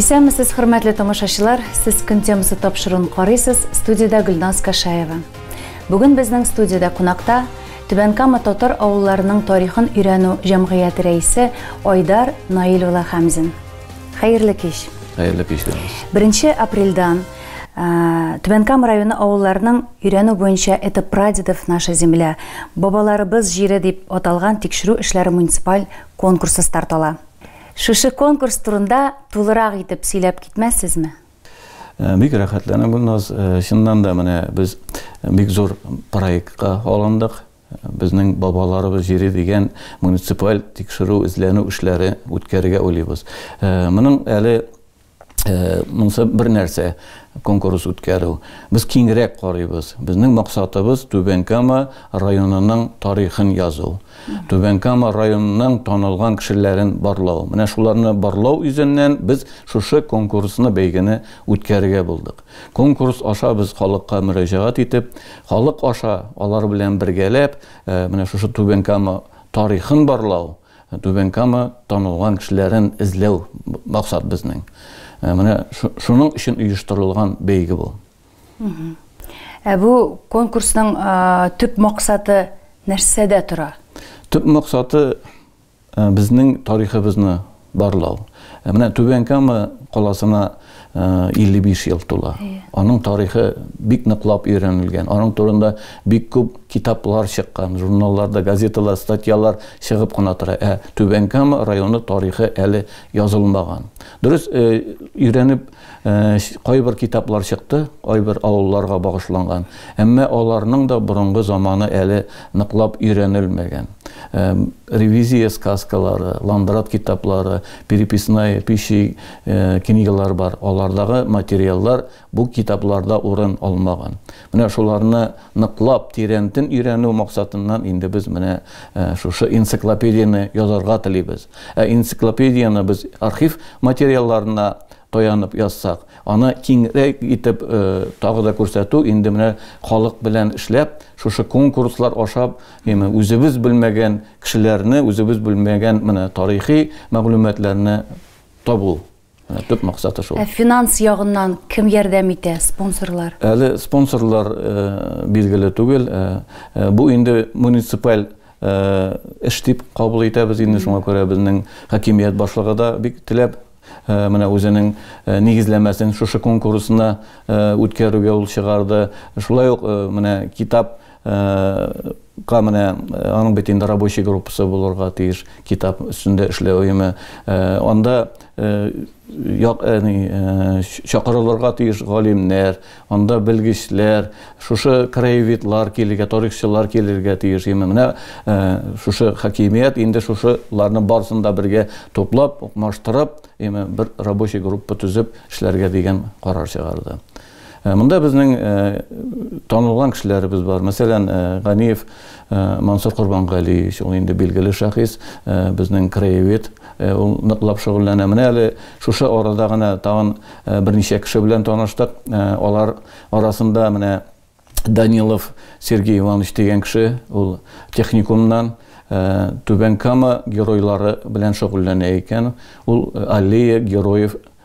Исәнмесез, хөрмәтле тамашачылар! Сез көн темасы тапшыруын карыйсыз, студиядә Гөлназ Кашаева. Бүген безнең студиядә кунакта Түбән Кама татар авылларының тарихын өйрәнү җәмгыяте рәисе Айдар Наил улы Хәмзин. Хәерле кич! Хәерле кич, Гөлназ! Беренче апрельдан Түбән Кама районы авылларының өйрәнү буенча Это прадедов наша земля, бабаларыбыз җире дип аталган тикшерү эшләре муниципаль конкурсы старт ала. Шушы конкурс турында тулырак итеп сөйләп китмәссезме? Э, бик рәхәтләнәм, Гөлназ. Э, чыннан да менә без бик зур проектка алындык. Безнең бабаларыбыз җире дигән муниципаль тикшерү, эзләнү эшләре үткәрергә уйлыйбыз. Э, моның әле Э, монысы бер нәрсә конкурс үткәрү без киңрәк карыйбыз безнең максатыбыз түбән кама районының тарихын язу түбән кама районының танылган кешеләрен барлау менә шуларны барлау үзеннән без шушы конкурсны бәйгене үткәрергә булдык конкурс аша без халыкка мөрәҗәгать итеп халык аша алар белән бергәләп э, менә шушы түбән кама тарихын барлау Түбән Кама танылган кешеләрен эзләү максат безнең. Менә шуның өчен оештырылган бәйге бу. Ә бу конкурсның төп максаты нәрсәдә тора? Төп максаты безнең тарихыбызны барлау. Менә Түбән Кама каласына 55 ел тула. Аның тарихы бик ныклап өйрәнелгән. Аның турында бик күп китаплар чыккан, журналларда, газеталар, статьялар чыгып кына тора. Ә Түбән Кама районы тарихы әле язылмаган. Дөрес, өйрәнеп кайбер китаплар чыкты, кайбер авылларга багышланган. Әмма аларның да борынгы заманы әле ныклап өйрәнелмәгән. Ревизия сказкалары, Ландрат китаплары, переписная пища книгалар бар, алардагы материаллар бу китапларда урын алмаган. Менә шуларны ныклап, тирәнтен өйрәнү максатыннан инде без менә шушы энциклопедияне язарга телибез. Ә энциклопедияне без архив материалларына таянып язсак, аны киңрәк итеп э, тагы да күрсәтү инде менә халык белән эшләп, шушы конкурслар ашап, яме үзебез белмәгән кешеләрне, үзебез белмәгән менә тарихи мәгълүматларны табу. Менә төп максаты шул. Ә финанс ягыннан кем ярдәм итә, спонсорлар? Әле спонсорлар э, билгеле түгел. Э, э, бу инде муниципаль э, эш дип кабул итәбез инде шуңа күрә безнең хакимият башлыгы да бик теләп э, менә үзенең э, нигезләмәсен шушы конкурсына э, үткәрүгә ул чыгарды. Шулай ук э, менә китап Га менә аның бит инде рабочий группасы булырга тиеш, китап өстендә эшләү өеме. Анда чакырылырга тиеш галимнәр, анда белгечләр, шушы краеведлар килергә, тарихчылар килергә тиеш. Именно менә шушы хакимият инде шушыларны барысын да бергә туплап, укмаштырып, именно бер рабочий группа төзеп эшләргә дигән карар чыгарды. Монда безнең танылган кешеләребез бар. Мәсәлән, Ганиев Мансур Корбангәлиевич, ул инде билгеле шәхес, безнең краевед, ул ныклап шөгыльләнә. Менә әле шушы арада гына тагын берничә кеше белән таныштык. Алар арасында менә Данилов Сергей Иванович дигән кеше, ул техникумнан Түбән Кама геройлары белән шөгыльләнә икән. Ул Аллея героев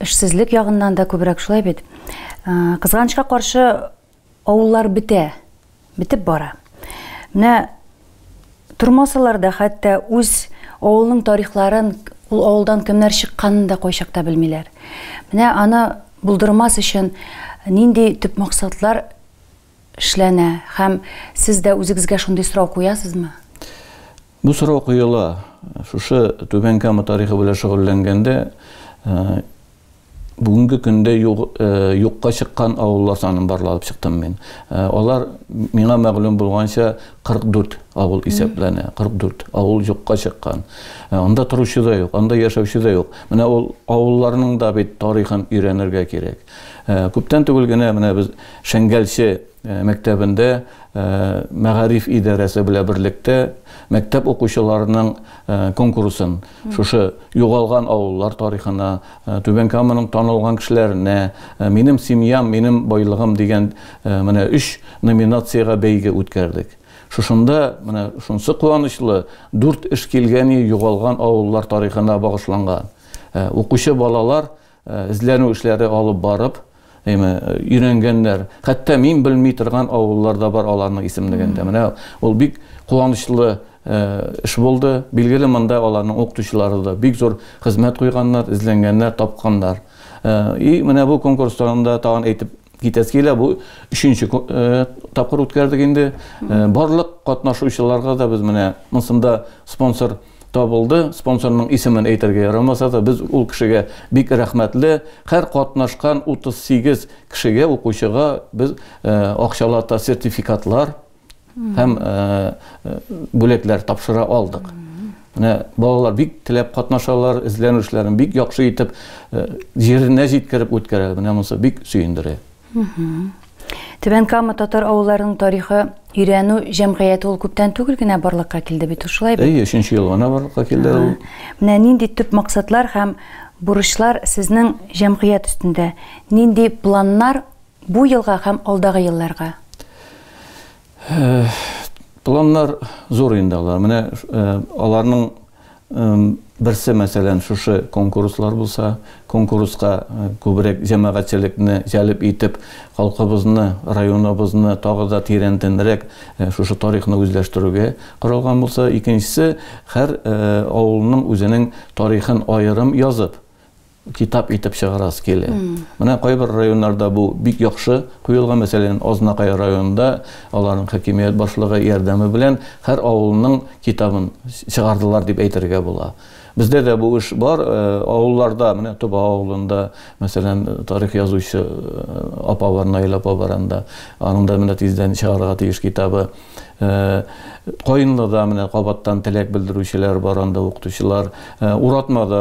Эшсезлек ягыннан да күбрәк шулай бит. Кызганычка каршы, авыллар бетә, бетеп бара. Менә тормасалар да хәтта үз авылның тарихларын, ул авылдан кемнәр чыкканын да кайчакта белмиләр. Менә аны булдырмас өчен нинди төп максатлар эшләнә һәм сез дә үзегезгә шундый сорау куясызмы? Бу сорау куела, шушы Түбән Кама тарихы белән шөгыльләнгәндә, бүгенге көндә юкка чыккан авыллар санын барлап чыктым мин. Алар, миңа мәгълүм булганча, 44 авыл исәпләнә. 44 авыл юкка чыккан. Анда торучы да юк, анда яшәүче дә юк. Менә ул авылларның да бит тарихын өйрәнергә кирәк. Күптән түгел генә менә без Шәңгәлче мәктәбендә мәгариф идарәсе белән берлектә мәктәп укучыларының конкурсын шушы югалган авыллар тарихына түбән каманың танылган кешеләренә минем семьям минем байлыгым дигән менә өч номинациягә бәйге үткәрдек шушында менә шунсы куанычлы дүрт эш килгәни югалган авыллар тарихына багышланган укучы балалар Эзләнү эшләре алып барып, әйме, өйрәнгәннәр. Хәтта мин белми торган авыллар да бар аларның исемлегендә. Менә ул бик куанычлы эш булды. Билгеле, монда аларның укытучылары да бик зур хезмәт куйганнар, эзләнгәннәр, тапканнар. И менә бу конкурстан да тагын әйтеп Китәсе килә, бу өченче э, тапкыр үткәрдек инде. Э, барлык катнашучыларга да без менә монсында спонсор табылды. Спонсорның исемен әйтергә ярамаса да, без ул кешегә бик рәхмәтле. Һәр катнашкан 38 кешегә, укучыга без э, акчалата сертификатлар һәм бүләкләр тапшыра алдык. Менә балалар бик теләп катнашалар, эзләнүчләрен бик яхшы итеп җиренә җиткереп үткәрә. Менә монысы бик сөендерә. Түбән Кама татар авылларының тарихы өйрәнү җәмгыяте ул күптән түгел генә барлыкка килде бит, шулай бит? Әйе, өченче ел гына барлыкка килде ул. Менә нинди төп максатлар һәм бурычлар сезнең җәмгыять өстендә? Нинди планнар Бу елга һәм алдагы елларга? Планнар зур инде алар. Менә аларның берсе, мәсәлән, шушы конкурслар булса, конкурска күбрәк җәмәгатьчелекне җәлеп итеп, халкыбызны, районыбызны тагы да тирәнтенрәк шушы тарихны үзләштерүгә каралган булса, икенчесе, һәр авылның үзенең тарихын аерым язып, китап итеп чыгарасы килә. Менә кайбер районнарда бу бик яхшы куелган, мәсәлән, Азнакай районында аларның хакимият башлыгы ярдәме белән һәр авылның китабын чыгардылар дип әйтергә була. Бездә дә бу эш бар, э, авылларда, менә Тоба авылында, мәсәлән, тарих язучы э, апа бар, Наил апа бар анда. Аның да менә тиздән чыгарга тиеш китабы. Э, Каенлыда менә кабаттан теләк белдерүчеләр бар, анда укытучылар э, уратмада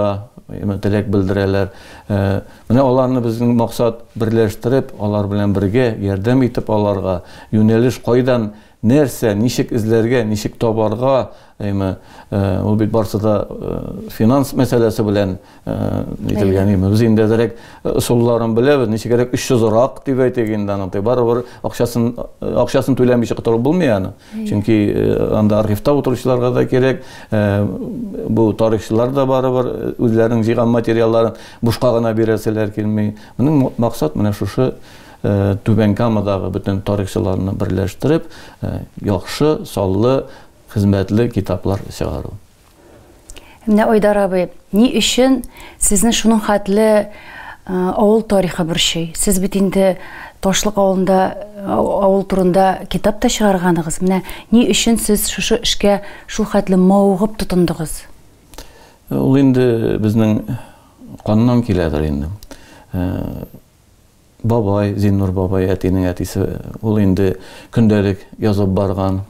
теләк белдерәләр. Э, менә аларны безнең максат берләштереп, алар белән бергә ярдәм итеп аларга, юнәлеш кайдан нәрсә, ничек эзләргә, ничек табарга, Әйме, ул бит барсы да финанс мәсьәләсе белән ителгән. Әйме, без инде әзерәк ысулларын беләбез. Ничегрәк 300 рак дип әйтик инде аны. Тый барыбер акчасын, акчасын түләмичә котылып булмый аны. Чөнки анда архивта утыручыларга да кирәк, бу тарихчылар да барыбер үзләренең җыйган материалларын бушка гына бирәселәр килми. Моның максат менә шушы Түбән Камадагы бөтен тарихчыларны берләштереп, яхшы, саллы Хезмәтле китаплар чыгару. Менә Айдар абый, ни өчен сезне шуның хәтле авыл тарихы борчый? Сез бит инде Ташлык авылында авыл турында китап та чыгарганыгыз. Менә ни өчен сез шушы эшкә шул хәтле мавыгып тотындыгыз? Ул инде безнең каннан киләдер инде. бабай, Зиннур бабай, әтинең әтисе, ул инде көндәлек язып барган,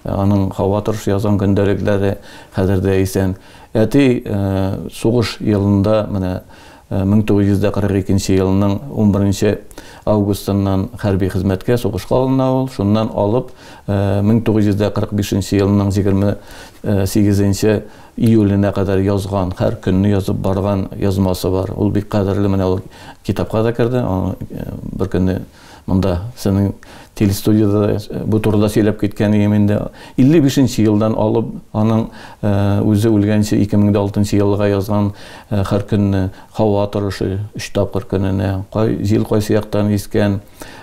аның һава торышы язган көндәлекләре хәзер дә исән. Әти сугыш елында, менә 1942 елның 11 августыннан хәрби хезмәткә сугышка алына ул, шуннан алып 1945 елның 28 июленә кадәр язган, һәр көнне язып барган язмасы бар. Ул бик кадерле, менә ул китапка да керде. Бер көнне монда сезнең телестудияда э, бу турыда сөйләп киткән идем инде. 55 нче елдан алып, аның э, үзе үлгәнче 2006 елга язган э, һәр көнне һава торышы 3 тапкыр көненә, кай җил кайсы яктан искән,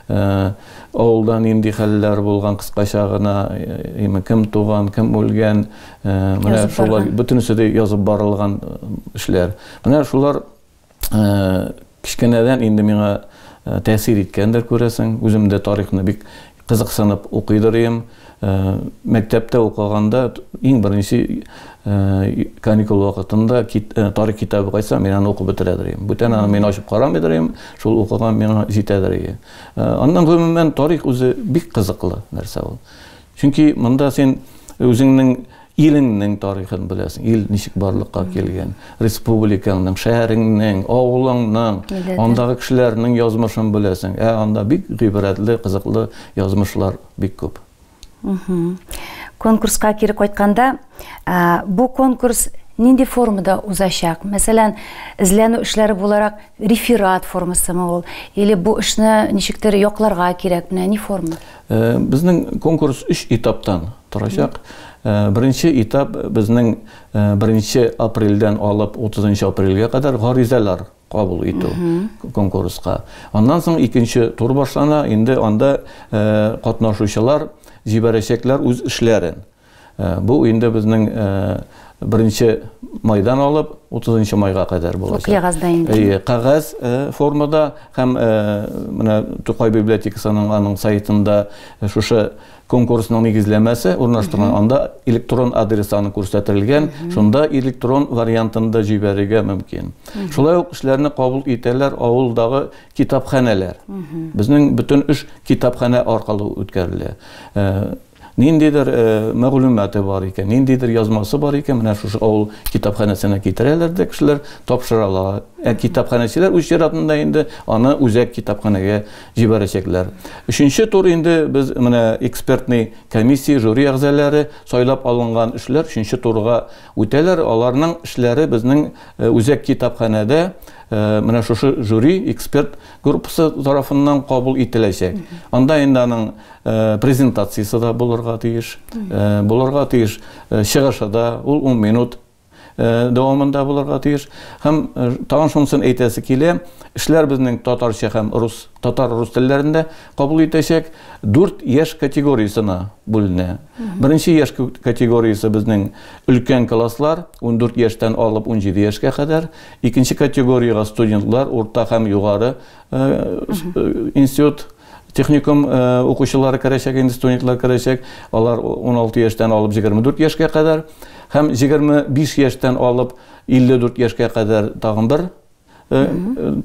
Э, авылда нинди хәлләр булган кыскача гына э, кем туган кем үлгән э, менә шулар бөтенесе дә язып барылган эшләр менә шулар кечкенәдән инде миңа тәэсир иткәндер күрәсең үзем дә тарихны бик кызыксынып укыйдыр идем Мәктәптә укыганда иң беренче каникул вакытында тарих китабы кайтса, мин аны укып бетерә дирем. Бүтән аны мин ачып карамый дирем, шул укыган миңа җитә дирем. Аннан гомумән тарих үзе бик кызыклы нәрсә ул. Чөнки монда син үзеңнең илеңнең тарихын беләсең, ил ничек барлыкка килгән, республикаңның, шәһәреңнең, авылыңның, андагы кешеләрнең язмышын беләсең. Ә анда бик гыйбрәтле, кызыклы язмышлар бик күп. Конкурска кире кайтканда, бу конкурс нинди формада узачак? Мәсәлән, эзләнү эшләре буларак реферат формасымы ул? Или бу эшне ничектер якларга кирәк? Менә ни форма? Безнең конкурс өч этаптан торачак. Беренче этап безнең 1 апрельдән алып 30 апрельгә кадәр гаризалар кабул итү конкурска. Аннан соң икенче тур башлана, инде анда катнашучылар җибәрәчәкләр үз эшләрен. Бу инде безнең беренче майдан алып, 30 майга кадәр булачак. Куягыз да инде. Әйе, кәгазь формада һәм менә Тукай библиотекасының аның сайтында шушы Конкурсның нигезләмәсе урнаштырган, анда электрон адрес саны күрсәтелгән, шунда электрон вариантында җибәрергә мөмкин. Шулай ук эшләрне кабул итәләр авылдагы китапханәләр. Безнең бөтен эш китапханә аркылы үткәрелә. Э, ниндидер э, мәгълүматы бар икән, ниндидер язмасы бар икән, менә шушы авыл китапханәсенә китерәләр дә кешеләр тапшыралар. Ә китапханәчеләр үз чиратында инде аны үзәк китапханәгә Җибәрәчәкләр. Өченче тур инде без менә экспертный комиссия, жюри әгъзаләре сайлап алынган эшләр өченче турга үтәләр. Аларның эшләре безнең үзәк китапханәдә менә шушы жюри, эксперт группасы тарафыннан кабул ителәчәк. Анда инде аның презентациясе дә булырга тиеш. Булырга тиеш чыгышы да, ул 10 минут дәвамында булырга тиеш. Һәм тагын шунысын әйтәсе килә, эшләр безнең татарча һәм рус, татар-рус телләрендә кабул итәчәк. Дүрт яшь категориясенә бүленә. Беренче яшь категориясе безнең өлкән класслар, 14 яшьтән алып 17 яшькә кадәр. Икенче категориягә студентлар, урта һәм югары институт Техникум укучылары керәчәк, инде студентлар керәчәк. Алар 16 яшьтән алып 24 яшькә кадәр һәм 25 яшьтән алып 54 яшькә кадәр тагын бер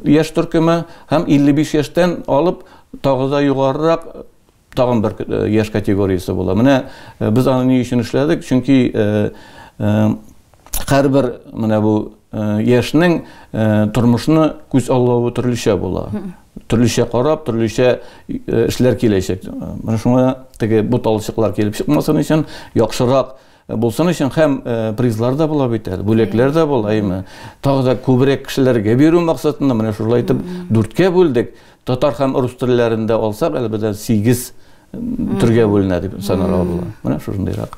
яшь төркеме һәм 55 яшьтән алып тагы да югарырак тагын бер яшь категориясе була. Менә без аны ни өчен эшләдек? Чөнки Һәрбер менә бу яшьнең тормышны күз аллавы төрлечә була. Төрлечә карап, төрлечә эшләр киләчәк. Менә шуңа теге бу талчыклар килеп чыкмасын өчен, яхшырак булсын өчен һәм призлар да була бит әле, бүләкләр дә була, әйме. Тагы да күбрәк кешеләргә бирү максатында менә шулай итеп дүрткә бүлдек. Татар һәм рус телләрендә алсак, әлбәттә, 8 төргә бүленә дип санарга була. Менә шушындыйрак.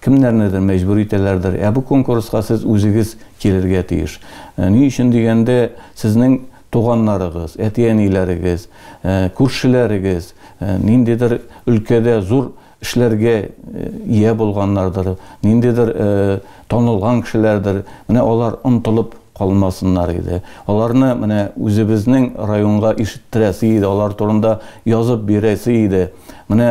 Кемнәрнедер мәҗбүр итәләрдер. Ә бу конкурска сез үзегез килергә тиеш. Ни өчен дигәндә, сезнең туганнарыгыз, әти-әниләрегез, күршеләрегез ниндидер өлкәдә зур эшләргә ия булганнардыр, ниндидер танылган кешеләрдер. Менә алар онтылып калмасыннар иде. Аларны менә үзебезнең районга ишеттерәсе иде, алар турында язып бирәсе иде. Менә